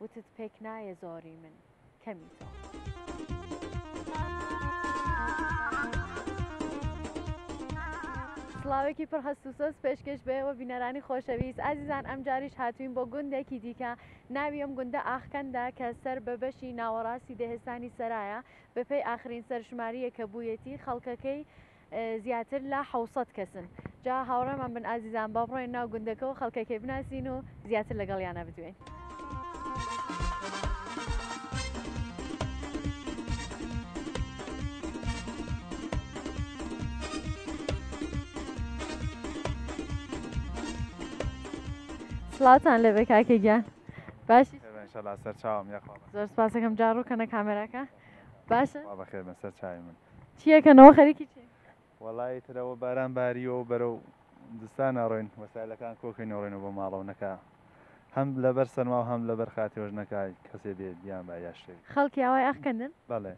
وتت پێک نایێ زۆری من کەمی تۆ. سڵاوێکی پڕ هەست و سۆز پێشکەش بێ وە بینەرانی خۆشەویست ئازیزان ئەمجاریش هاتووین بۆ گوندێکی دیکە ناوی ئەم گوندە ئاخکەندە کە سەر بە بەشی ناوەڕاستی دەهێستانی سەرایە بەپێی ئاخرین سەرشمارییە کە بوویەتی خەڵکەکەی زیاتر لە حەوت سەد کەسن جا هاوڕێمان بن ئازیزان با بڕۆین ناو گوندەکەو خەڵکەکەی بناسین و زیاتر لەگەڵیانا بدوێین. سڵاوتان لێبێ کاکە گیان باشی؟ ان شاء الله سەرچاوم یاخوا زۆر سپاسەکەم جا ڕووکەنە کامێراکە. باشە خوا بەخێر بن سەر چاوی من. چی ئەکەنەوە خەریکی چین؟ وەڵایی ترەوە باران باریوە و بەرەو زستان ئەڕۆین وەسایلەکان کۆکەین ئەڕۆینەوە بۆ ماڵەوە نەکا هەم لەبەر سەرما و هەم لەبەر خاتێۆش نەکا کەسێ بێ بیان با یا شتێ بێ. خەڵکی ئاوای ئاخکەندن؟ بەڵێ.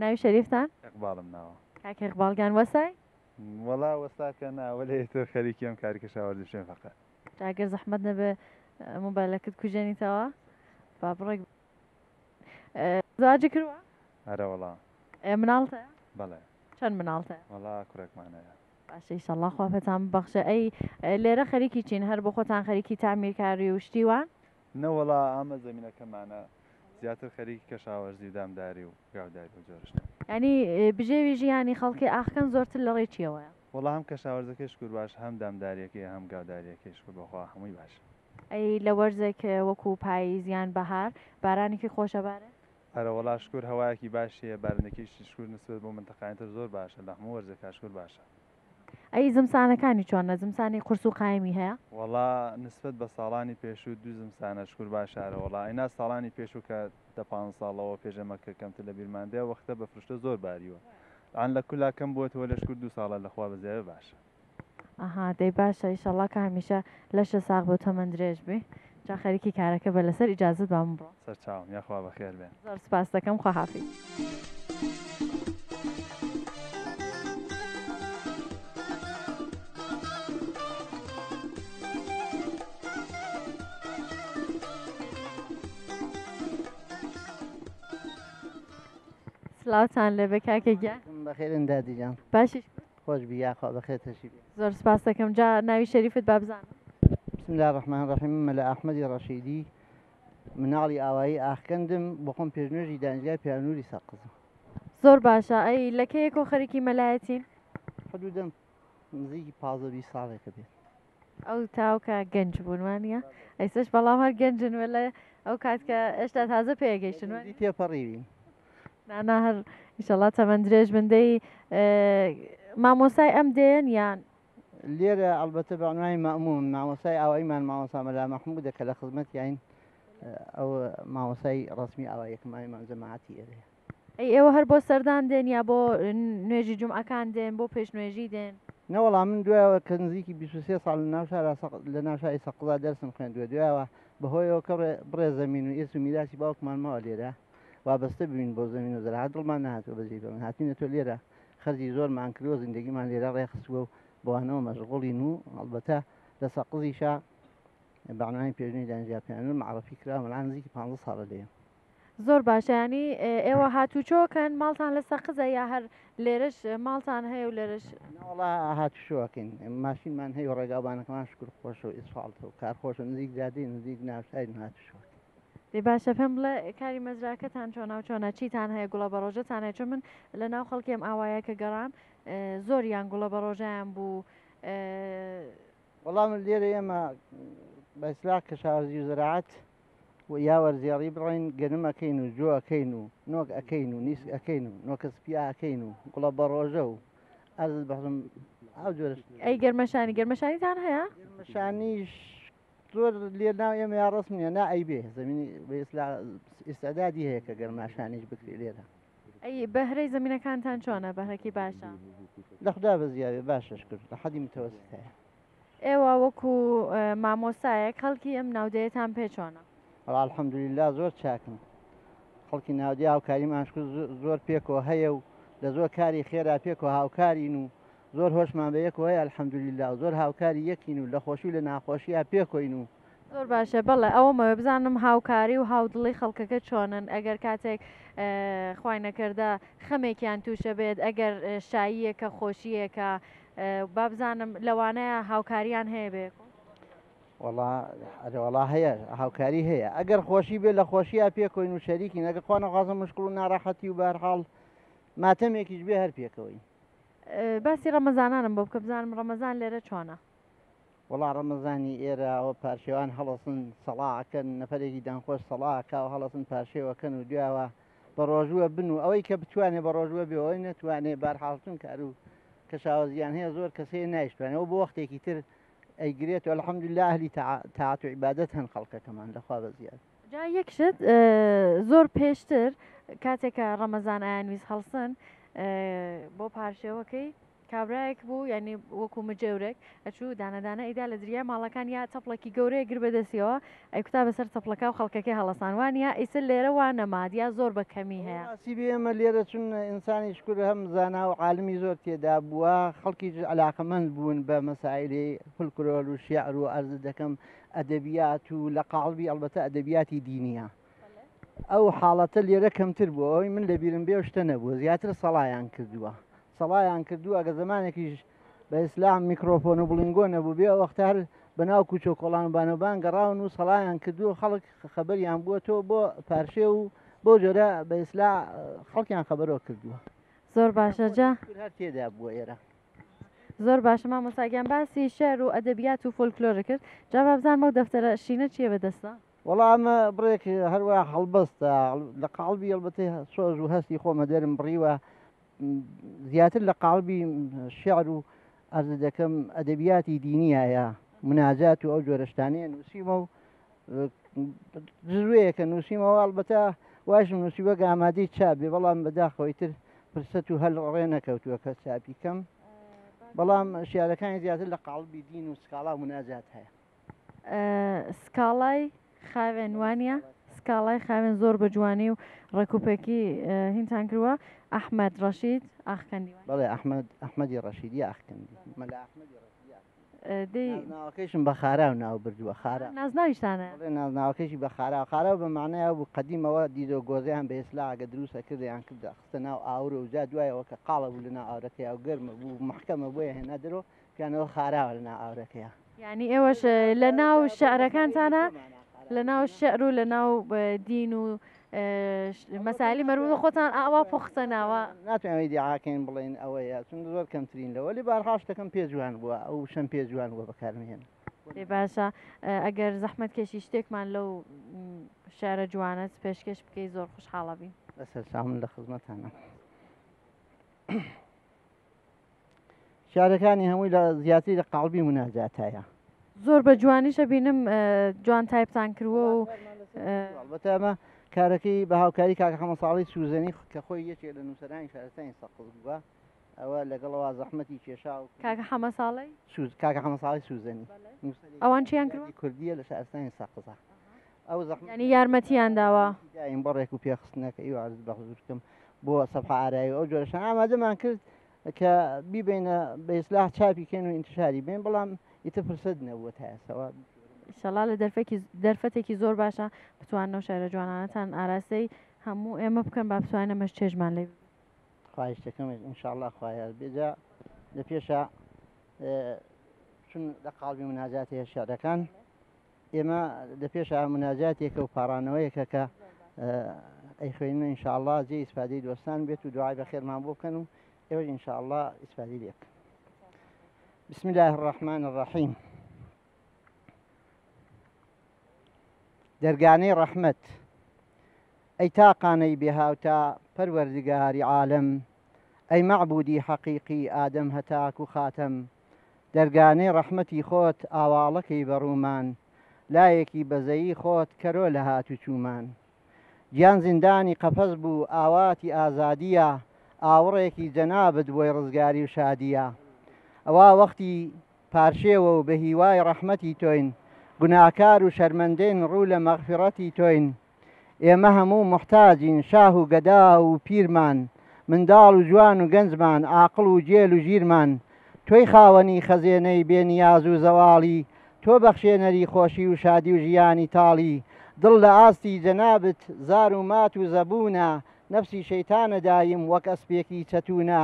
ناوی شەریفتان؟ ئێقباڵم ناوە. کاک ئێقباڵ گان وەسای؟ وەڵا وەسا کە نا وەلێ ئیتر خەریکی ئەم کاری کەشاوەرزی شوێن فەقێ. جا گەر زەحمەت نەبێ مۆبایلەکت کوژێنیتەوە با بڕێک. زەواجی کردوە؟ ئەرە وەڵا. مناڵت هەیە؟ بەڵێ. چەند مناڵت هەیە؟ وەڵا کوڕێکمان هەیە. باشە ئیشەڵڵا خوا پێتان ببەخشێ. ئەی لێرە خەریکی چین؟ هەر بۆ خۆتان خەریکی تەعمیرکاری و شتی وان؟ نەوەڵا ئامە زەمینەکەمانە زیاتر خەریکی کەشاوەرزی و دامداری و گاوداری و جۆرە شتان. یانی بژێوی ژیانی خەڵکی ئاخکەن زۆرتر لە ڕێی چییەوەیە؟ وەڵا هەم کەشاوەرزەکەی شکور باشە هەم دامدارییەکەی هەم گاودارییەکەی شکور بەخوا هەمووی باشە. ئەی لە وەرزێک وەکو پاییز یان بەهار بارانێکی خۆش ئەبارێ؟ ئەرە وەڵا شکور هەوایەکی باشی هەیە بارنەکیشی شکور نسبەت بۆ منتەقاین تر زۆر باشە لە هەموو وەرزێکا شکور باشە. ئەی زمسانەکانی چۆنە زمسانی قورس و قایمی هەیە؟ وەڵا نسبەت بە ساڵانی پێشوو دوو زمسانە شکور باشە ئەرە وەڵا ئەینا ساڵانی پێشوو کە دە پانز ساڵ لەوە پێش ئەمە کە کەمتر لە بیرمان دێ ئەو وەختە بە فرشتە زۆر باریوە ئان لە کولا کەم بوەتەوە لە شکور دوو ساڵە لە خوا بە زیاێ باشە. ئەها دەی باشە ئیشەڵا کە هەمیشە لەشە ساغ بێ و تەمەن درێژ بی جا خەریکی کارەکە بە لەسەر ئیجازەت با من بڕۆم سەرچاوم یاخوا بەخێر بێن زۆر سپاست دەکەم خوا حافیز. سلاوتان لێبێ کاکە گیان بەخێرن دادی جان باشی خۆش بی یاخوا بەخێرتەشی بێ. زۆر سپاست دەکەم جا ناوی شەریفت با بزانم. بسم اللە الرحمن الرحیم من مەلا ئەحمەدی ڕەشیدی مناڵی ئاوایی ئاخکەندم بۆخۆم پێشنوێژی دانیشگای پیاونوری سەقزم. زۆر باشە ئەی لەکەیەکۆ خەریکی مەلایەتین؟ حدودەن نزیکی پازدە بیست ساڵێکە بێت. ئەو تاوکە گەنج بوون وانە ئەیسش بەڵام هەر گەنجن وە لە ئەو کات کە ئێشتا تازە پێگەیشتن تێپەڕیوی نانا هەر ئیشەڵا تەمەەن درێژ بندەی مامۆسای ئەم دێن یان لێرە ئەلبەتە بەعنوانی مەمون مامۆسای ئاوایمان مامۆسا مەلا مەحموو دەکە لە خزمەتیین ئەو مامۆسای ڕسمی ئاوایەکەمانمان جەماعاتی ئێرەیە ئەی ئێوە هەر بۆ سەردان دێن یا بۆ نوێژی جومعەکان دێن بۆ پێش نوێژی دێن؟ نەوەڵا من دوایەوە کە نزیکی بیست و سێ ساڵ لە ناو شارا سەق لە ناو شاری سەقزا دەرسم خوێندووە دوایەوە بە هۆی ئەوە کە ڕێ بڕێ زەمین و ئیرس و میراسی باوکمان ماوە لێرە وابەستە بووین بۆ زەمین و زەراعەت دڵمان نەهاتووە بەجێی بەن هاتووینەتۆ لێرە خەرجی زۆرمان کردووە زیندەگیمان لێرە ڕێ خستووە و بەوانەوە مەشغوڵین و هەڵبەتە لە سەقزیشا بەعنوانی پێشنوی دانیشتگا پێنوور مەعڕەفی کراوم ئەلعان نزیکی پانزە ساڵە لێم. زۆر باشە ینی ئێوە هاتوچۆکەن ماڵتان لە سەقزە یا هەر لێرەش ماڵتان هەیە و لێرەش ناوەڵا هاتوشۆکەین ماشینمان هەیە و ڕێگاوبانەکەمان شکر خۆش و ئیسفاڵت و کار خۆشە نزیک جادی نزیک ناوشاری هاتوشۆک دەی باشە پێم بڵێ کاری مەزراکەتان چۆنا و چۆنا چیتان هەیە گوڵە بە ڕۆژەتان هەیە چون من لە ناو خەڵکیم ئاوایە کە گەڕام زۆر یان گوڵە بە ڕۆژیان بوو وەڵا من لێرە ئێمە بە ئیسلاح کەشاورزی و زەراعەت و یا وەرزێڕی بڕۆین گەنم ئەکەین و جۆ ئەکەین و نۆک ئەکەین و نیسک ئەکەین و نۆکە سپیا ئەکەین و گوڵە بە ڕۆژە و ئەرز بەڕم ئەو جۆرە شت ئەی گەرمەشانی گەرمەشانیتان هەیە گەرمەشانیش زۆر لێ ناو ئێمە یا ڕسم نیە نا ئەیبێ زمینی بە ئیسلا ئیسعدادی هەیە کە گەرماشانیش بکرێ لێرە ئەی بەهرەی زمینەکانتان چۆنە بەهرەکی باشە لە خدا بەزیاێ باشش کرد لە حەدی متەوەست هەیە ئێوە وەکو مامۆسایە کەڵکی ئەم ناودەیەتان پێ چۆنە الحەمدللا زۆر چاکن خەڵکی ناودی هاوکاری ماشکر زۆر پێکەوە هەیە و لە زۆر کاری خێرا پێکەوە هاوکارین و زۆر هۆشمان بە یەکەوەی الحەمدللا و زۆر هاوکاری یەکین و لە خۆشی لە ناخۆشیە پێکۆین و زۆر باشە بەڵێ ئەوەمەوێ بزانم هاوکاری و هاودڵی خەڵکەکە چۆنن ئەگەر کاتێک خی نەکردە خەمێکیان تووشە بێت ئەگەر شاییەکە خۆشیەکە بابزانم لەوانەیە هاوکاریان هەیە بێ وڵا هەیە هاوکاری هەیە ئەگەر خۆشی بێ لە خۆشیە پێکۆین و شەریکی نەگە خۆ نەخوازم مشکل و ناراحەتی و بەرحاڵ ماتەمێکیش بێ هەر پێکەوەی باسی ڕەمەزانانم بۆ بکە بزانم ڕەمەزان لێرە چۆنە وەڵا ڕەمەزانی ئێرە ئەوە پارشێوان هەڵەسن سەڵا ئەکەن نەفەرێکی دەنگخۆش سەڵا ئەکا و هەڵەسن پارشێو ئەکەن و دویاوە بە ڕۆژووە بن و ئەوەی کە بتوانێ بە ڕۆژووە بێ و ئەوەی نەتوانێ بارحاڵ چون کار و کەشاوەزیان هەیە زۆر کەس هەیە نایشتوانێ ئەوە بۆ وەختێکی تر ئەیگرێت و الحمدللە ئەهلی تاع تاعەت و عیبادەت هەن خەڵکەکەمان لە خوا بەزیاد جا یەک شت ئە زۆر پێشتر کاتێک کە ڕەمەزان ئایانویست هەڵسن ئە بۆ پارشێوەکەی کابرایەک بوو یانی وەکو مجێورێک ئەچوو دانە دانە ئیدا لە دریای ماڵەکان یا چەپڵەکی گەورەیە گر بەدەسیەوە ئەیکوتا بەسەر چەپڵەکە و خەڵکەکەی هەڵەسان وانە ئیسە لێرە وا نەماد یا زۆر بە کەمی هەیە. ڕاستی بێ ئێمە لێرە چون ئینسانی شکور هەم زانا و عالمی زۆر تێدا بووە خەڵکیش عەلاقەمەند بوون بە مەسایلی فلکرۆل و شێعر و عەرزت دەکەم ئەدەبیات و لە قاڵبی ئەڵبەتە ئەدەبیاتی دینیە ئەو حاڵەتە لێرە کەمتر بوو ئەوەی من لەبیرم بێ شتە نەبوو زیاتر سەڵایان کردووە سەڵایان کردو ئەگە زمانێکیش بە ئیسلام میکرۆفۆن و بڵنگۆ نەبوو بێ وەختار بەناو کوچۆ کۆڵان و بانەبان گەڕاون و سەڵایان کردووە خەڵک خەبەریان بووە تۆ بۆ پارشێ و بۆ جۆرە بە ئیسلا خەڵکیان خەبەرەوە کردووە زۆر باشە جا تێدا بووە ئێرە زۆر باشە مامۆساگیان باسی شعر و ئەدەبیات و فۆلکلۆرە کرد جا بابزانمە و دەفتەرە شینە چیە بەدەستە وەڵا ئەمە بڕێک هەروە هەڵبەستە لە قاڵبی هەڵبەتی سۆز و هەستی خۆمە دێرم بڕیوە زیاتر لە قاڵبی شعر و ئەرز دەکەم ئەدەبیاتی دینیایە مناجات و ئەو جۆرەشتانەیە نووسیمە و جزوەیەکە نووسیمەوە هەڵبەتە واشم نووسیوە گامادەی چابێ بەڵام بەداخەوەی تر فرسەت و هەل ڕێ نەکەوتووە کە چاپیکەم بەڵام شارەکانی زیاتر لە قاڵبی دین و سکاڵا مناجات هەیە سکاڵای خاوێن وانە سکاڵای خاوێن زۆر بە جوانی و ڕێکوپێکی هینتان کردوە ئەحمد ڕەشید ئاخکەندی بەڵێ ئەحمد ئەحمەدی ڕەشیدی ئاخکەندی ناوەکەیشم بە خارا و ناو بردووە خارە نازناویشتانە ناوەکەشی بە خارا خارا بە معنایا بوو قدیمەوە دیدۆ گۆزیان بە ئێسلاگە دروستە کردیان کردە خستە ناو ئاور و جا دوایەوە کە قاڵە بوو لە ناو ئاورەکەی ئەو گەرمە بوو محکەمە بۆیە هێنا درۆ کەنەوە خاراوە لە ناو ئاورەکەیە. یانی ئێوەش لە ناو شعرەکانتانە لە ناو شعر و لە ناو دین و مەسالی مەروە خۆتان ئاوا پوختە ناوە ناتوانێت دیعاکەین بڵێن ئەوەیە چون زۆر کەمترین لەوە لێ بارهاشتەکەم پێ جوان بووە ئەو شەم پێ جوان بووە بەکارمێن لێ باشە ئەگەر زەحمت کێشی شتێکمان لەو شارە جوانەت پێشکەش بکەی زۆر خوشحاڵە بین بەسەر سامن لە خزمەتانە. شارەکانی هەمووی لە زیاتری لە قاڵبی مناجاتایە زۆر بە جوانیشە بینم جوان تایپتان کردوە و بەتەمە کارەکەی بە هاوکاری کاکە حەمە ساڵی سوزەنی کە خۆی یەکێ لە نووسەرانی شارستانی سەقز بووە ئەوە لەگەڵەوە زەحمەتی کێشا و کاکە حەمە ساڵی سوز کاکە حەمە ساڵی سوزەنی ئەوان چیان کوردیە لە شارستانی سەقزە ئەو زەحمەتە یانی یارمەتیان داوە؟ یارمەتی داین بۆ ڕێک و پێخستنەکەی و عەرز بە حزورتکم بۆ سەفحە ئارای و ئەو جۆرە شتانە ئامادەمان کرد کە بیبەینە بە ئیسلاح چاپی کەین و ئینتشاری بەین بەڵام ئیتر فرسەت نەبووە تا ئێستەوە. ئیشەڵا لە دەرفەکی دەرفەتێکی زۆر باشە بتوانن ئەو شعرە جوانانەتان ئاراستەی هەموو ئێمە بکەن با بتوانین ئەمەش چێژمان لێ ببینین. خواهیشتەکەمت ئینشاڵڵا خوا یار بێ جا لە پێشا چون لە قاڵبی مناجاتەیە شعرەکان. ئێمە لە پێشا مناجاتێکە و پاڕانەوەیەکە کە ئەیخوێنین و ئینشاءاللە جێ ئیسفادەی دۆستان بێت و دوعای بەخێرمان بۆ بکەن و ئێوەش ئینشاءاللە ئیسفادەی لێ بکەن بسم الله الرحمن الرحیم دەرگانەی ڕەحمەت ئەی تاقانەی بێهاوتا پەروەردگاری عالەم ئەی مەعبودی حەقیقی ئادەم هەتاکو خاتەم دەرگانەی ڕەحمەتی خۆت ئاواڵە کەی بە ڕوومان لایەکی بەزەیی خۆت کەرۆ لە هاتوچوومان گیان زیندانی قەفەس بوو ئاواتی ئازادییە ئاوڕێکی جەنابت بۆی ڕزگاری و شادییە ئەوا وەختی پارشێوە و بە هیوای ڕەحمەتی تۆین گوناهکار و شەرمەندەین ڕوو لە مەغفیڕەتی تۆین ئێمە هەموو موحتاجین شاه و گەدا و پیرمان منداڵ و جوان و گەنجمان عاقڵ و گێل و ژیرمان تۆی خاوەنی خەزێنەی بێ نیاز و زەواڵی تۆ بەخشێنەری خۆشی و شادی و ژیانی تاڵی دڵ لە ئاستی جەنابت زار و مات و زەبوونە نەفسی شەیتانە دایم وەک ئەسپێکی چەتوونە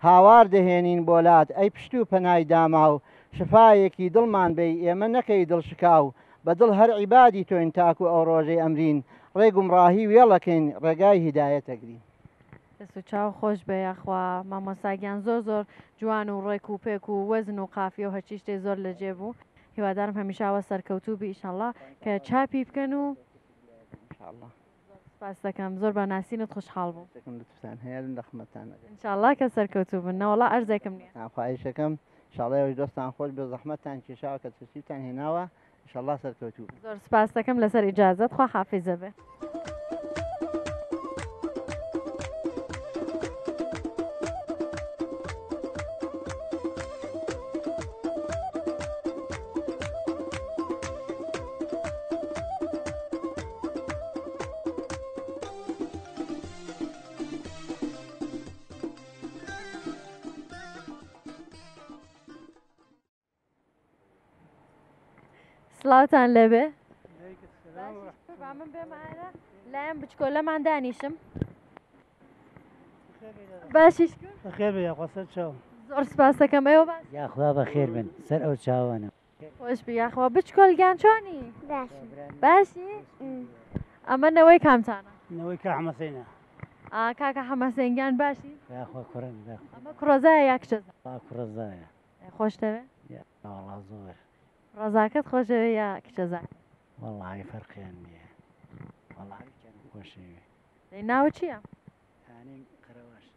هاوار دەهێنین بۆ لات ئەی پشت و پەنای داماو شفایەکی دڵمان بەی ئێمە نەکەی دڵشکاو بە دڵ هەر عیبادی تۆین تاکو ئەو ڕۆژەی ئەمرین ڕێ گومڕاهی وێڵە کەین ڕێگای هیدایەت ئەگرین. دەست و چاو خۆش بێ یاخوا مامۆستا گیان زۆر زۆر جوان و ڕێک و پێک و وەزن و قافیە و هەرچی شتێ زۆر لە جێ بوو هیوادارم هەمیشە ئاوا سەرکەوتوو بی ئیشەڵا کە چاپی بکەن و. زۆر سپاست دەکەم زۆر بە ناسینت خوشحاڵ بووم شتێکم لوتفتان هەیە لە خمەتان دەگەم ان شاء الله کە سەرکەوتوو بن نەوەڵا ئەرزێکم نییە آه، خواهیشەکەم ان شاء الله ئێوەش دەستان خۆش بێ زەحمەتتان کێشاوە کە تەشریفتان هێناوە ان شاء الله سەرکەوتوو بن. زۆر سپاست دەکەم لەسەر ئیجازەت خوا حافیزە بێ سڵاوتان لەبێ لایەن بچکۆ لەمان دانیشم باشیش خێر بێ یاخوا سەر چاو زۆر سپاسەکەم ئێوە باش یاخوا بە خێر بن سەر ئەو چاوانە خۆشبی یاخوا بچکۆل گیان چۆنی باشی ئەمە نەوەی کامتانە نەوەی کا حەمەسینە کاکە حەمەسەنگیان باشی کوڕزایە یا کچە کوڕزایە خۆشتەوێ زۆر ڕزاکەت خۆشەوێ یا کچەزا وڵی فەرقیان نییە خۆشەوێ ناو چییە؟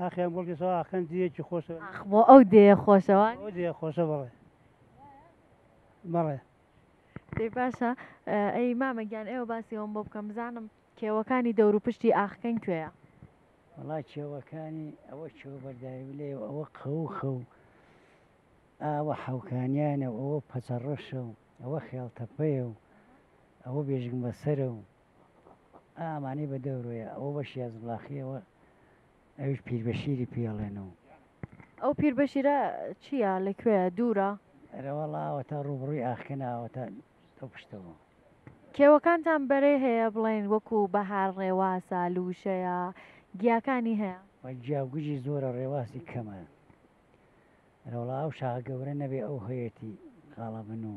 ئاخیان بڵکی سەوا ئاخکەن دیەکی خۆشە ئاخ بۆ ئەو دێیە خۆشەوان ئەو دیە خۆشە بەڵێ بەڵێ دەی باشە ئەی مامە گیان ئێوە باسی ئەوم بۆ بکەم بزانم کێوەکانی دەور و پشتی ئاخکەن کوێە وڵا کێوەکانی ئەوە کێوە بەرداوی لێ ئەوە قەو خەو ئاوە حەوکانیانە ئەوە پەچەڕەشە و ئەوە خێڵتەپەیە و ئەوە بێژنگ بەسەرە و ئا ئەمانەی بە دەورۆیە ئەوە بە شیاز بڵاخی ئەوە ئەویش پیربەشیری پێ ئەڵێن و ئەو پیربەشیرە چییە لە کوێیە دوورە؟ ئەرەوەڵا ئەوەتا ڕووبڕووی ئاخکەنا ئەوەتا ئەو پشتەوە. کێوەکانتان بەرەی هەیە بڵێن وەکو بەهار ڕێواسە لووشەیە گیاکانی هەیە؟ وە گیا و گژی زۆرە ڕێواسی کەمە. ئەرەوەڵا ئەو شاخە گەورە نەبێ ئەو هەیەتی قاڵەبن و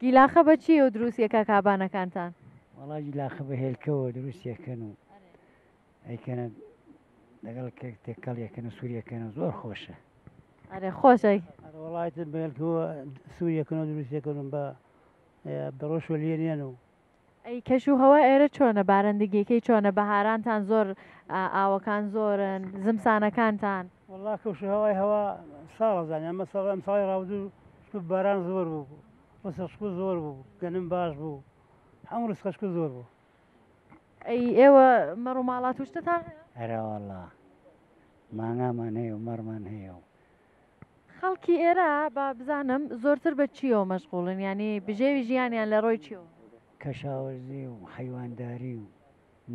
گیلاخە بە چیەو دروستیە کاک هابانەکانتان؟ وەڵا گیلاخە بە هێلکەوە دروست یەکەن و ئەیکەنە لەگەڵ کێک تێکەڵ یەکەن و سوور یەکەن و زۆر خۆشە ئەرێ خۆشە وڵایت بەێلکەوە سوور یەکەن و دروست یەکەن و بە بەڕۆشوە لێنێن و ئەی کەش و هەوا ئێرە چۆنە بارندگیەکەی چۆنە بەهارانتان زۆر ئاوەکان زۆرن زمسانەکانتان والله کەش و هەوای هەوا ساڵە زانانی ئەمە ساڵ ئەم ساڵی ڕاودوو شکوت باران زۆر بوو بوو وەسە شکو زۆر بوو گەنم باش بوو هەموو ڕسقە شکو زۆر بوو ئەی ئێوە مەڕ و ماڵات وشتتان هەیە؟ هەرا والله مانگامان هەیە و مەڕمان هەیە و خەڵکی ئێرە با بزانم زۆرتر بە چیەوە مەشغوڵن یانی بژێوی ژیانیان لە ڕۆی چیەوە؟ کەشاوەرزی و حەیوانداری و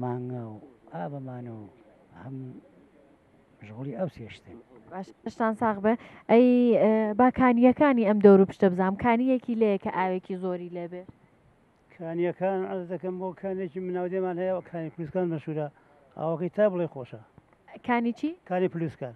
مانگا و ئا بەمانە و هەم مەشغوڵی ئەو سێ شتن. باش شتان ساغ بێ ئەی با کانییەکانی ئەم دەور و پشتە بزانم کانییەکی لێیە کە ئاوێکی زۆری لێ بێ؟ کانییەکان عەرز دەکەم بۆ کانێکی مناودێمان هەیە کانی پلوسکان مەشهوورە ئاوەکەی تا بڵێی خۆشە. کانی چی؟ کانی پلوسکان.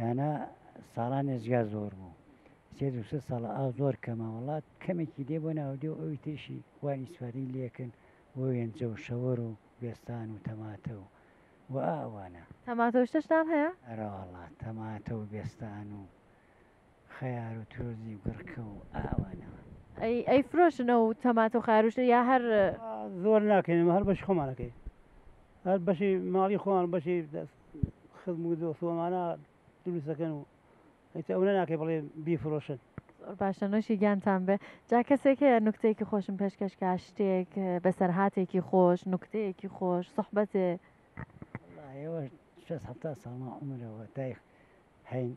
یانە ساڵان ئێجگا زۆر بوو سێ دوو سێ ساڵە ئاو زۆر کەمە وڵات کەمێکی دێ بۆ ناودێ و ئەوی تریشی وانی سوادی لەکن بۆ وێنجە و شەوەر و گوێستان و تەماتە و و ئاوانە تەماتەوشتەشتان هەیە؟ ئەرەوەڵا تەماتە و گوێستان و خەیار و ترۆزی و گڕکە و ئاوانە. ئەی ئەیفرۆشن ئەو تەماتە و خەیاروشتە یا هەر. زۆر ناکەین ئەمە هەر بەشی خۆمان ئەکەین هەر بەشی ماڵی خۆمان بەشی خزم و دۆست و ئەمانە دروست دەکەن و ئیتر ئەونە ناکەی بڵێ بیفرۆشن. زۆر باشە نۆشی گیانتان بێ جا کەسێک هەیە نوکتەیەکی خۆشم پێشکەش کا شتێک بەسەرهاتێکی خۆش نوکتەیەکی خۆش سوحبەتێ. وەڵا ئێوەش شەست حەفتا ساڵ ماعومرە واتای هەین.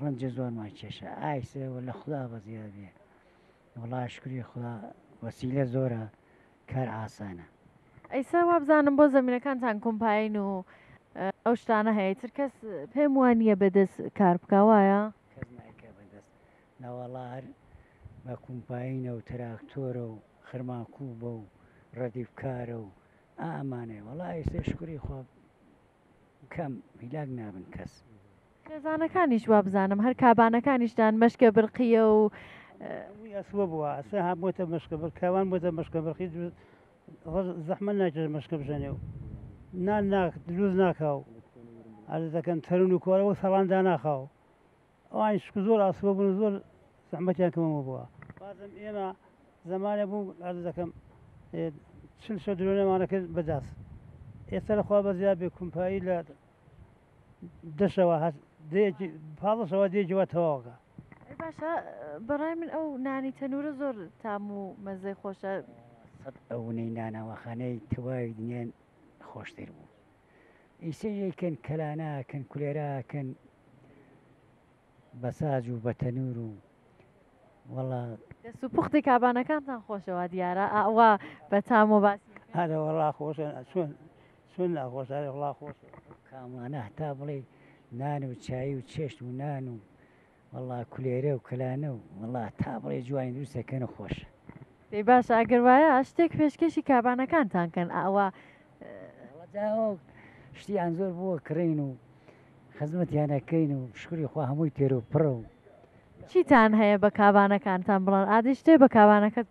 ڕەنجە زۆرمان کێشا ئایسێ واللە خودا بەزیاد بێ وەڵا شکری خودا وەسیلە زۆرە کار ئاسانە. ئەیسا وابزانم بۆ زەمینەکانتان کۆمپاین و ئەو شتانە هەیە تر کەس پێم وانە بەدەست کار بکوایە ناوەڵا هەر بە کومپاینە و تراکتۆرە و خرماکو بە و ڕەدیفکارە و ئامانێ وەڵا ئێسێ شکری خۆ کەم هیلاک نابن کەس خێزانەکانیش وابزانم هەر کابانەکانیش دان مەشکە برقیە و ئەسوە بووە ئەسە ها بۆتە مەشکە بر کاوان بۆتە مەشکە بڕخی زەحمە ناکرێت مەشکە بژەنێ و نان ناک دروز ناکاو ئەرز دەکەن تەرون و کۆرەوە سەڵان داناخاو ئەوان شک زۆر ئاسوە بوون زۆر زەحمەتیان کەمەوە بووە بازم ئێمە زمانە بوو ئەرز دەکەم چل شە درۆنەمانە کرد بەداست ئێستا لەخوا بەزیاد بێ کومپایی لە دەشەوە هەست دەیەکی پاڵەشەوە دێکی وە تەواوەکە ئەی باشە بەڕای من ئەو نانی تەنورە زۆر تام و مەزەی خۆشە سەد ئەوونەی نانەوەخانەی تەواوی دنیان خۆشتر بوو ئیسەیەکەن کەلاناکەن کولێراکەن بەساج و بە تەنور و وەڵا دەست و پوختی کابانەکانتان خۆشەوە دیارە ئاوا بە تام و باسی هەرە وەڵا خۆشە چۆن چۆن ناخۆشداری وڵا خۆشە. ئەو کامانە هەتا بڵێی نان و چایی و چێشت و نان و وەڵا کولێرە و کەلانە و وەڵا هەتا بڵێی جوانی دروست دەکەن و خۆشە. دەی باشە ئەگەر وایە شتێک پێشکێشی کابانەکانتان کەن ئەوە. وەڵا جا ئەو شتیان زۆر بۆوە کڕین و خزمەتیان ئەکەین و شکوری خوا هەمووی تێر و پڕە و. چیتان هەیە بە کابانەکانتان بڵێن ئادی شتێ بە کابانەکەت.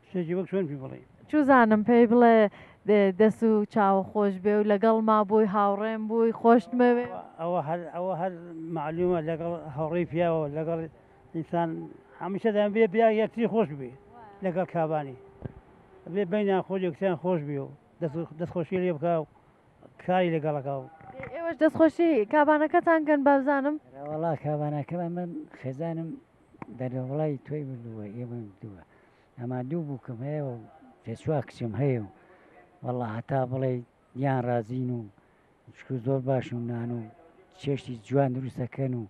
شتێکی وەک چۆن پێ بڵێ چوزانم پێی بڵێ دەس و چاوە خۆش بێ و لەگەڵ ما بووی هاوڕێم بووی خۆشتمەوێ ئەوە هەر ئەوە هەر معلومە لەگەڵ هەوڕێی پیاوە لەگەڵ ئینسان هەمیشە دەم بێ پیا یەکتری خۆش بێ لەگەڵ کابانی بێ بینیان خۆ یەکتیان خۆش بێ و دەستخۆشی لێ بکە و کاری لەگەڵەکە و ئێوەش دەستخۆشی کابانەکەتان گەن بابزانم وڵا کابانەکەم من خێزانم دەرەوڵای تۆی مردووە ئێمەی مردووە ئەما دوو بووکم هەیە و سێ چوار کچم هەیە و وەڵا هەتا بڵێی یان ڕازین و شکر زۆر باش و نان و چێشتی جوان دروستەکەن و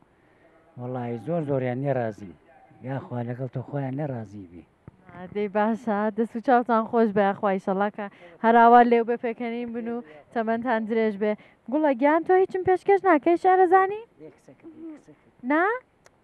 وەڵی زۆر زۆریان نێڕازی یاخوا لەگەڵ تۆ خۆیان نەڕازی بێ دەی باشە دەست و چاوتان خۆش بە خوایشەڵاکە هەراوا لێو بە پێکەنین بن و تەمەندان درێژ بێ گوڵە گیان تۆ هیچم پێشکەش ناکەی شارەزانی نا؟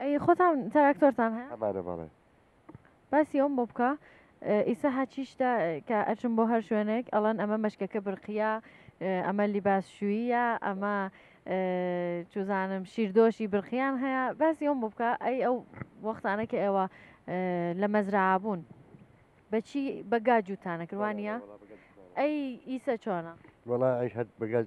ئەی خۆتان تراکتۆرتان هەیە؟ هەمانە بەڵێ. باسی ئەوم بۆ بکە ئیسە هەچیشتە کە ئەچم بۆ هەر شوێنێک ئەڵەن ئەمە مەشکەکە برقیە ئەمە لیباس شوویە ئەمە چوزانم شیردۆشی برقیان هەیە باسی ئەوم بۆ بکە ئەی ئەو وەختانە کە ئێوە لە مەزرابوون بەچی بەگا جووتانە کروانە ئەی ئیسە چۆنە وڵا ئەی هەر بەگەل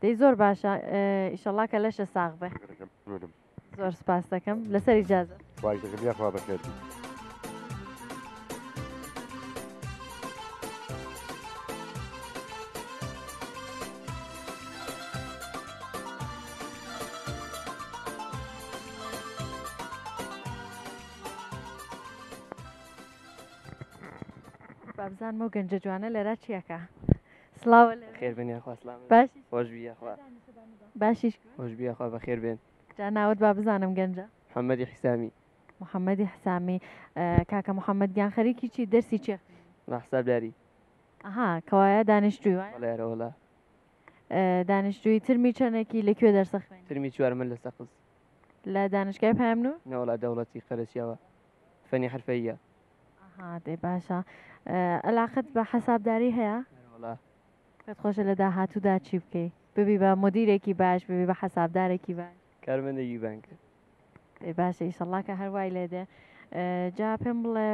دەی زۆر باشە ئیشەڵا کە لەشە ساغ بێ زۆر سپاس دەکەم لەسەر ئیجازە یاخوا بەخێر بابزانمە گەنجە جوانە لەرا چیەکە سڵاو لە خێربێن یاخوا سلام باشی خۆشبی یاخوا باشیش خۆشبی یاخوا بەخێر بێن جا ناوت با بزانم گەنجە محەممەدی حیسامی محەممەدی حسامی کاکە محەممەد گیان خەریکی چی دەرسی چێ ڕاحسابداری ئەها کەوایە دانیشتوی وایەرەوەڵە دانیشتوی ترمی چەندێکی لەکوێ دەرسە خوێن ترمی چوارمە لە سەقز لە دانشگای پامن و نەوەڵا دەوڵەتی قەرەسیەوە فەنی حرفەییە. ئەها دەی باشە ئەلاقەت بە حەسابداری هەیە؟ بەڵێ. پێت خۆشە لە داهاتوودا چی بکەی؟ ببی بە مودیرێکی باش، ببی بە حەسابدارێکی باش؟ کارمەندێکی بانک. دەی باشە ئیشەڵڵا کە هەر وای لێ دێ. جا پێم بڵێ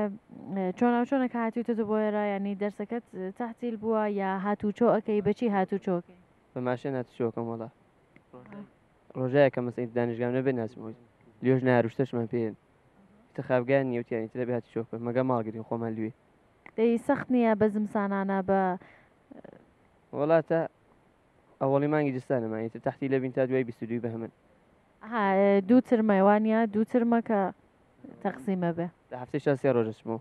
چۆنە و چۆنە کە هاتوویتەتە بۆ ئێرە یانی دەرسەکەت تەحتیل بووە یا هاتوچۆ ئەکەی بە چی هاتوچۆ ئەکەی؟ بە ماشێن هاتوچۆ ئەکەم وەڵا. ڕۆژایەکە مەسەی دانیشگام نەبێ ناچمەوە. لیۆش نایەر و شتەشمان پێیەن. تخابگان نیە و تیانی ترە بێ هاتی چۆ بکە مەگا ماڵ گرین خۆمان لوی. دەی سەخت نیە بە زمسانانە بە. وەڵا تا ئەوەڵی مانگی جستانە مان ئیتر تەحتی لەبین تا دوای بیست و دووی بەهمن. ها دوو ترمە وانیە دوو ترمە کە تەقسیمە بێ. لە هەفتەی شا سێ ڕۆژ ئەچمەوە.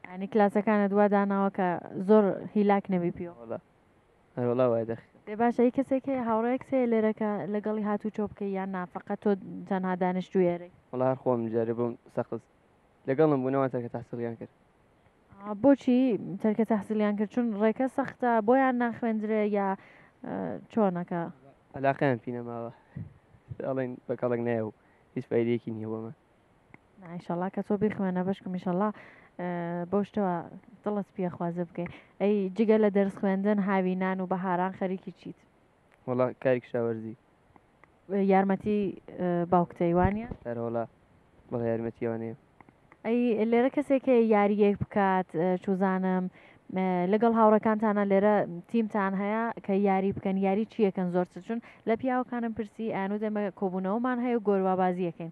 یانی کلاسەکانت وا داناوە کە زۆر هیلاک نەبی پیوە. وەڵا. ئەرێ وەڵا وای دەخ. دەی باشە هی کەسێک هەیە هاوڕێیەکت هەیە لێرە کە لەگەڵی هاتووچۆ بکەی یان نا فەقەت تۆ تەنها دانیشتووی ئێرەی؟ وەڵا هەر خۆم جارێ بۆم سەقز لەگەڵم بوو نەوان تەرکە تەحسیڵیان کرد. ئا بۆچی تەرکە تەحسیڵیان کرد چون ڕێکە سەختە بۆیان ناخوێندرێ یا ئە، چۆنەکە؟ عەلاقەیان پی نەماوە. ئەڵێن بە کەڵک نایە و هیچ فایدەیەکی نییە بۆمان. نا ئیشەڵا کە تۆ بیخوێنە بەشکم ئیشەڵا بەو شتەوە دڵت پێ خوازە بکەی ئەی جگە لە دەرس خوێندن هاوینان و بەهاران خەریکی چیت وڵا کاری کشاوەرزی یارمەتی باوکتەیوانە هەرۆڵا بەڵ یارمەتیوانەیە ئەی لێرە کەسێکە یاریەک بکات چوزانم لەگەڵ هاوڕەکانتانە لێرە تیمتان هەیە کە یاری بکەن یاری چیەکەن زۆر چون لە پیاوەکانم پرسی ئەنو دەمە کۆبوونەوەمان هەیە گۆروابازیەکەین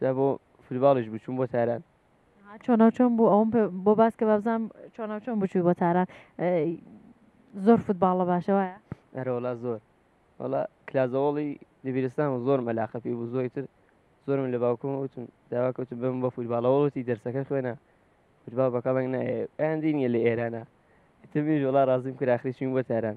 جا بۆ فولباڵیش بوو چووم بۆ تاران. ها چۆنە و چۆن بوو ئەوم پێ- بۆ باس کە بابزانم چۆنە و چۆن بچووی بۆ تاران ئەی، زۆر فوتباڵە باشە وایە ئەرە وەڵا زۆر وەڵا کلازەوەڵی دەبیرستان و زۆرم ئەلاقە پێی بوو زۆی تر زۆرم لە باوکم وتم داوا کەوتم بم بە فوتباڵەوەڵتی دەرسەکە خوێنە فوتباڵ بە کەڵک نایە ئەیاندی نیە لە ئێرانە تبیش وەڵا ڕازیم کرا ئاخری چوین بۆ تاران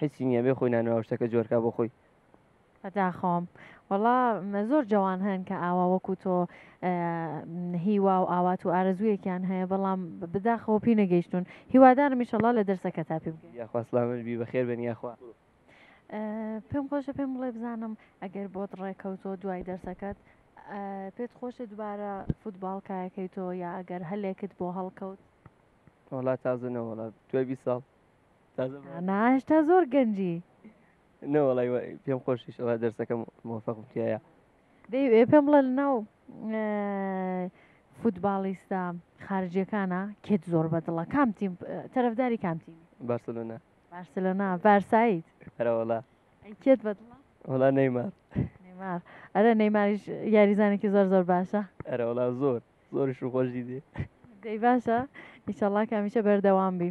حسی نیە بێ خۆی نانوا و شتەکە جۆر کا بۆ خۆی. بەداخەوەم وەڵا زۆر جەوان هەن کە ئاوا وەکو تۆ هیوا و ئاوات و ئارەزوویەکیان هەیە بەڵام بداخەوە پێی نەگەیشتون هیوادارم ئیشەڵا لە دەرسەکە تا پێ بگەی یاخوا سڵامت بی بەخێر بێن یاخوا پێم خۆشە پێم بڵێ بزانم ئەگەر بۆت ڕێکەوتۆ دوای دەرسەکەت پێت خۆشە دوبارە فوتباڵ کایەکەی تۆ یا ئەگەر هەلێکت بۆ هەڵکەوت وڵات تازە نەوەڵات دوای بی ساڵ ناش تا زۆر گەنجی نەوەڵی پێم خۆشیش ئەوە دەرسەکەم مۆفەقم تایە دەیوێ پێم بڵێ ناو فوتباڵیستە خارجیەکانە کێت زۆر بەدڵە کام تیم تەرەفداری کام تیم بارسلۆنا بارسلۆنا بارسایت هەرەوەڵا کێت بەدڵە وڵا نەیمار نەیمار ئەرە نەیماریش یاریزانێکی زۆر زۆر باشە ئەرەوەڵا زۆر زۆرش خۆشی دێ دەی باشە ئیشەڵا کامیشە بەردەوام بی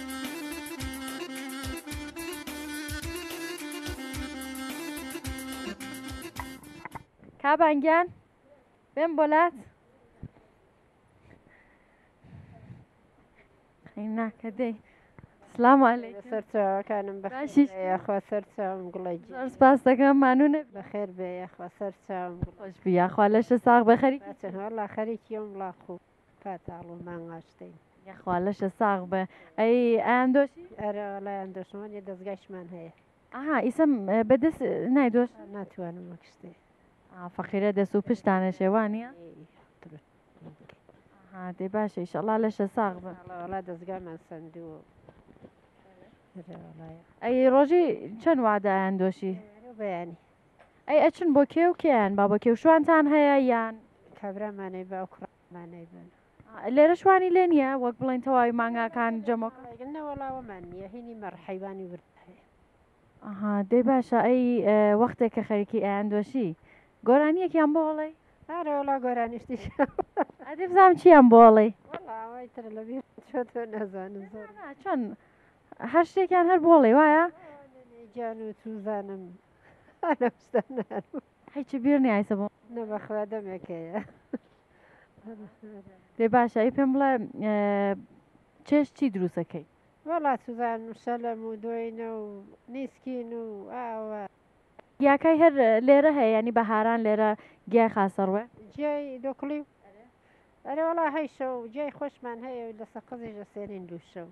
کابان گیان بێم بۆلات ناکە دەی سلام علیک سەرچاوەکانم بەشی یاخوا سەرچاوم گوڵی سپاس دەکەم مانون بەخێر بێ یاخوا سەرچاوم خۆش بی یاخوا لەشە ساغ بەخەری چەنوەڵا خەریکی ئەم وڵاخوو تکا تاڵ و مانگ ئاشتین. یەخوا لەشە ساغ بئ. ئەی ئایان دۆشی؟ ئەرێ وەڵایان دۆشمان یە دەزگایشمان هەیە. ئەها ئیسە بە دەس نای دۆش؟ ناتوانم وەک شتێ. ئا فەقیرە دەس و پشتانە شێ وانیە؟ ئەها دەی باشە ئیشەڵا لەشە ساغ بئ. وەڵا دەزگامان سەندووە. ئەی ڕۆژی چەن وادە ئایان دۆشی؟ بەیانی. ئەی ئەچن بۆ کێ و کێیان با بە کێوشوانتان هەیە یان کابرامانەی بە ئەو کوڕمانەی بن لێرە شوانی لێ نییە وەک بڵێن تەواوی مانگاکان جەمۆک نەوەڵاوەمان نییە هینی مەڕحەیوانی ورد ئەها دەی باشە ئەی وەختێک کە خەریکی ئەیان دۆشی گۆرانیەکیان بۆ هەڵی ئارەوەڵا گۆرانیشتی ئەدی بزانام چیان بۆڵی چۆن هەر شتێکیان هەر بۆڵێ وایە گیان و توزانم هیچ بیر نیایسە بۆ نەبەخوا دەمێکەیە لێ باشە ئی پێم بڵێ چێش چی دروستەکەی وەڵا سوزان شەلەم و دۆینە و نیسکین و ئاوە گیاکای هەر لێرە هەیە ینی بەهاران لێرە گیای خاسەڕوێ جیای دۆکڵی و ئەرێ وڵا هەیشە و جای خۆشمان هەیە و لە سەقزیش لە سێنین دووشە و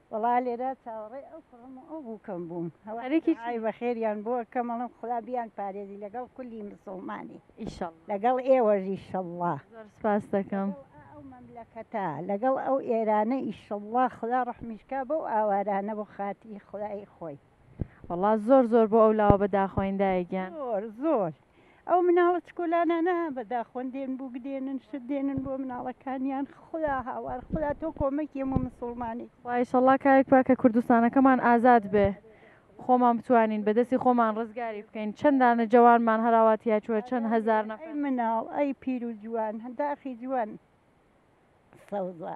وەڵا لێرە چاوەڕێی ئەو کوڕم و ئەو بووکەم بووم هەوارێکی ئای بەخێریان بۆ ئەکەم ئەڵێم خودا بیان پارێزی لەگەڵ کولی مسوڵمانی ئیشەڵا لەگەڵ ئێوەش ئیشەڵا زۆر سپاس دەکەم لەگەڵ ئەو مەملەکەتە لەگەڵ ئەو ئێرانە ئیشەڵا خودا ڕەحمیش کا بەو ئاوارانە بۆ خاتری خودای خۆی. وەڵا زۆر زۆر بۆ ئەو لاوە بەداخەوەین دایە گیان. زۆر زۆر. ئەو مناڵە چکۆلانانە بەدا خۆن دێن بوو گدێنن شت دێنن بۆ مناڵەکانیان خدا هاوار خدا تۆ کۆمەکی ئەمە مسلمانی وایشەڵا کارێک پاکە کوردستانەکەمان ئازاد بێ خۆمان بتوانین بەدەستی خۆمان ڕزگاری بکەین چەندانە جوانمان هەراواتیا چوە چەند هزار نە مناڵ ئەی پیر و جوان هەنداخی جوان سەوزە.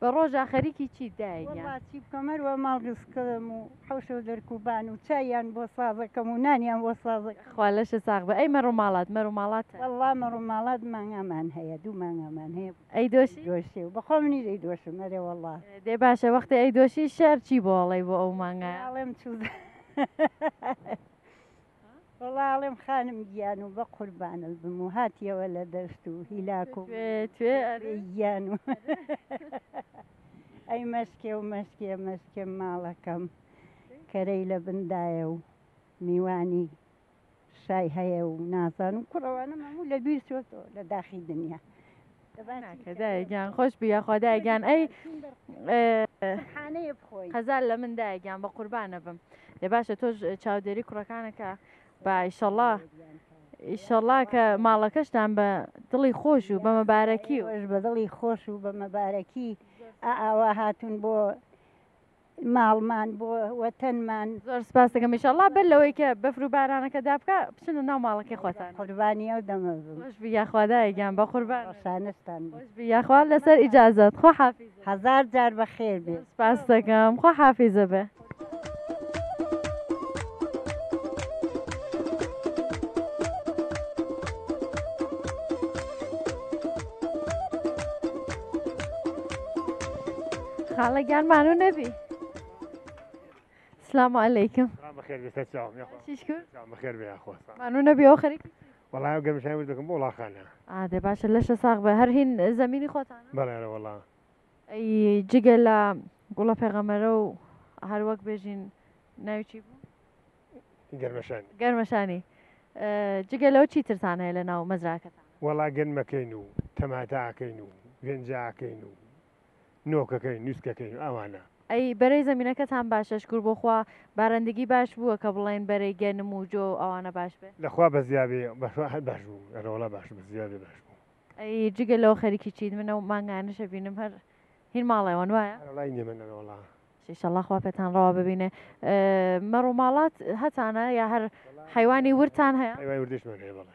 بە ڕۆژا خەریکی چیت دایە گیان؟ وەڵا چی بکەم هەر وا ماڵ گسکەم و حەوشە و دەرکوبان و چاییان بۆ سازەکەم و نانیان بۆ سازەکەم. خوا لەشت ساغ بئ. ئەی مەڕ و ماڵات مەر و ماڵات؟ وەڵا مەڕ و ماڵات مانگامان هەیە دوو مانگامان هەیە. ئەیدۆشی؟ دۆشی و بەخۆ منیش ئەیدۆشم ئەرێ وەڵا. دەی باشە وەختێ ئەیدۆشی شێعر چی بۆ ئەڵێی بۆ ئەو مانگایە؟ ئەڵێم چوزانم. وەڵا ئەڵێم خانم گیان و بە قوربانت بم و هاتیەوە لە دەشت و هیلاک و توێ گیان و ئەی مەسکێ و مەسکێ مەسکێ ماڵەکەم کەرەی لە بندایە و میوانی شای هەیە و نازان و کوڕەوانم هەموو لە بیر چۆتەوە لە داخی دنیا. ناکە دایە گیان خۆش بی یاخوا دایە گیان ئەی حانەیە بخۆی هەزار لە من دایە گیان بە قوربانە بم لێ باشە تۆش چاودێری کوڕەکانەکە باشەڵا ئیشەڵا کە ماڵەکەشتان بە دڵی خۆش و بە مەبارەکی و بە دڵی خۆش و بە مەبارەکی ئاوا هاتون بۆ ماڵمان بۆ وەتەنمان. زۆر سپاست دەکەم ئیشەڵا بەر لەوەی کە بەفر و بارانەکە دابکا بچنە ناو ماڵەکەی خۆتان. قوربانی ئەو دەمە بم. خۆش بی یاخوا دایە گیان بەقوربان. ڕەشانستان بم. خۆش بی یاخوا لەسەر ئیجازەت خوا حافیزە. هەزار جار بەخێر بێ. زۆر سپاست دەکەم خوا حافیزە بێ. خاڵە گیان مانو نەبی سلام علیکم مانو نەبی ئەو خەریک وڵای گەمشای وز دەکەم بۆ وڵاخانە ئادێ باشە لەشە ساغ بە هەر هین زمینی خۆتان بەڵێرە وڵا ئەی جگە لە گوڵە پێغەمەرە و هەر وەک بێژین ناوچی بوو گەرمەشانی گەرمەشانی جگە لەو چی ترسان هەیە لە ناو مەزراکەتان وەڵا گەنمەکەین و تەماتاکەین و گەنجاکەین و نۆکەکەی نوسکەکەی ئەوانە. ئەی بەرەی زەمینەکەتان باشە شکور بۆ خوا بارندگی باش بووە کە بڵێن بەرەی گەنم و جۆ و ئەوانە باش بێ. لە خوا بەزیا بێ بەخوا هەر باش بوو ئەرە وەڵا باش بوو بەزیا بێ باش بوو. ئەی جگە لەوە خەریکی چیت من ئەو مانگانەش ئەبینم هەر هین ماڵێوەن وایە؟ ئەرە وڵای نیە من ئەرە وەڵا. ئیشەڵا خوا پێتان ڕەوا ببینێ. مەڕ و ماڵات هەتانە یا هەر حەیوانی وردتان هەیە؟ حەیوانی وردیشمان هەیە بەڵێ.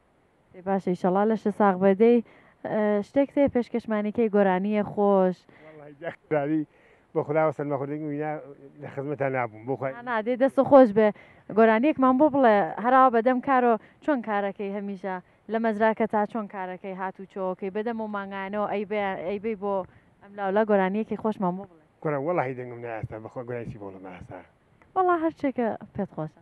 ئەی باشە ئیشەڵا لەشە ساغ بە دەی شتێک تێ پێشکەشمانی کەی گۆرانیە خۆش داری بۆ خداوە سەرمەخوردێک وینا لە خزمەتان نابووم بۆ خۆی نادێ دەست و خۆش بێ گۆرانیەکمان بۆ بڵێ هەراوە بەدەم کارۆ چۆن کارەکەی هەمیشە لە مەزراکە تا چۆن کارەکەی هات و چۆکەی بەدەم و مانگانەوە ئەیبەی بۆ ئەم لاولا گۆرانیەکی خۆشمان بۆ بڵێ گۆرا وەڵی دەنگم ناستا بەخۆ گۆرایسی بۆڵە ماستا وەڵا هەرچێکە پێت خۆشە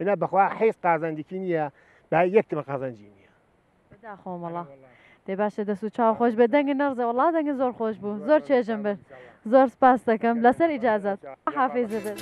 ئنا بەخوا حیز قازانجیکی نییە با یەکتمە قازانجی نییە داخۆمەڵە دێ باشە دەس و چاو خۆش بێ دەنگ نەڕزە وڵا دەنگە زۆر خۆش بوو زۆر چێژم بێت زۆر سپاس دەکەم لەسەر ئیجازات حافێز بێت.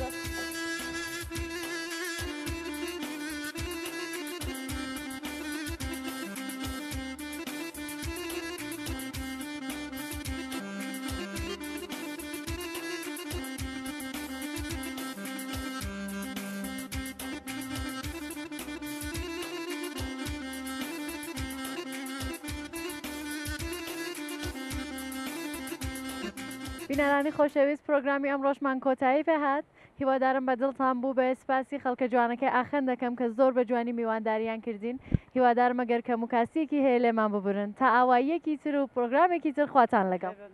بینەرانی خۆشەویست پرۆگرامی ئەم ڕۆژمان کۆتایی پێهات هیوادارم بە دڵتان بوو بە سپاسی خەڵکە جوانەکەی ئاخەن دەکەم کە زۆر بە جوانی میوانداریان کردین هیوادارمە گەرکەم و کاسیەکی هەیە لێمان ببورن تا ئاواییەکی تر و پرۆگرامێکی ترخواتان لەگەڵ.